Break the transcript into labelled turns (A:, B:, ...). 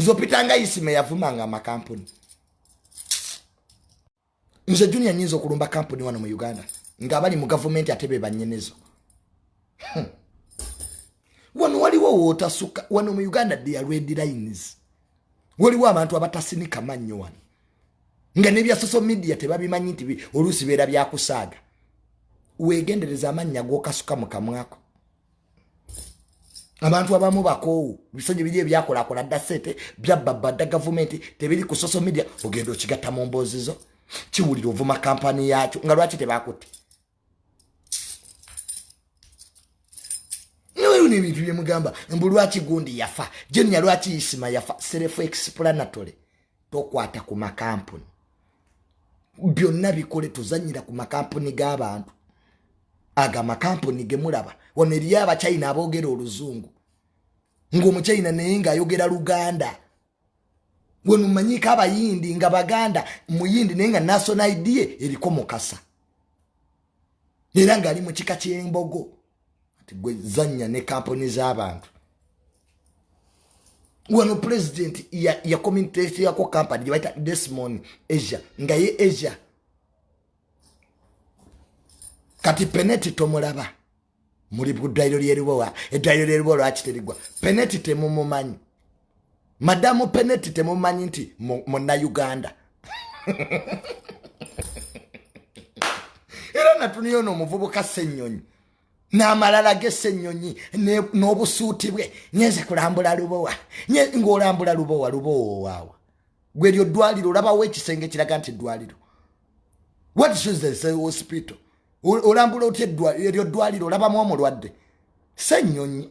A: nze opitanga isima eyavumanga amakampuni nze junia nyinza okulumba kampuni wano mu uganda ngaabali mu gavumenti ate bebanyenezo hmm. wano waliwo wootasuka wano mu uganda dia redi lines waliwo abantu abatasinika mannyo wano nga nebya social media tebabimanyi nti oluusi beera byakusaaga weegendereza amannya gokasuka mu kamwako abantu abamu bakoowu biso gye biri ebyakolakola dda sente byabbabba dda gavumenti tebiri ku social media ogenda okigatta mu mboozi zo kiwulira ovuma kampani yaakyo nga lwaki tebakutte nweru nebintu byemugamba mbu lwaki gundi yafa jenya lwaki isima yafa serefu explanatori tokwata ku makampuni byonna bikole tuzanyira ku makampuni g'abantu ago amakampuni gemulaba wano eriyo abachina aboogera oluzungu ngaomuchina naye ngaayogera luganda wenumanyiko abayindi nga baganda muyindi naye nga national idea eriko mukasa era ngaali mu kika ky'embogo ati gwe zanya ne kampuni z'abantu wano pulezidenti yakominteteyako kampani gyebaita desmon asia nga ye asia kati peneti tomulaba muli ku ddwaliro lyeribowa eddwaliro lyeribowa lwaki terigwa peneti temumumanyi madamu peneti temumanyi nti munauganda era natuniyo no omuvubuka senyonyi n'amalala g'essenyonyi n'obusuuti bwe ngenze kulambula lubowa ng'olambula lubowa lubowa owaawa gwe lyo ddwaliro olabawo ekisenge kiraga nti ddwaliro what shoes the say hospital olambula otya eryo ddwaliro olabamu omulwadde ssenyonyi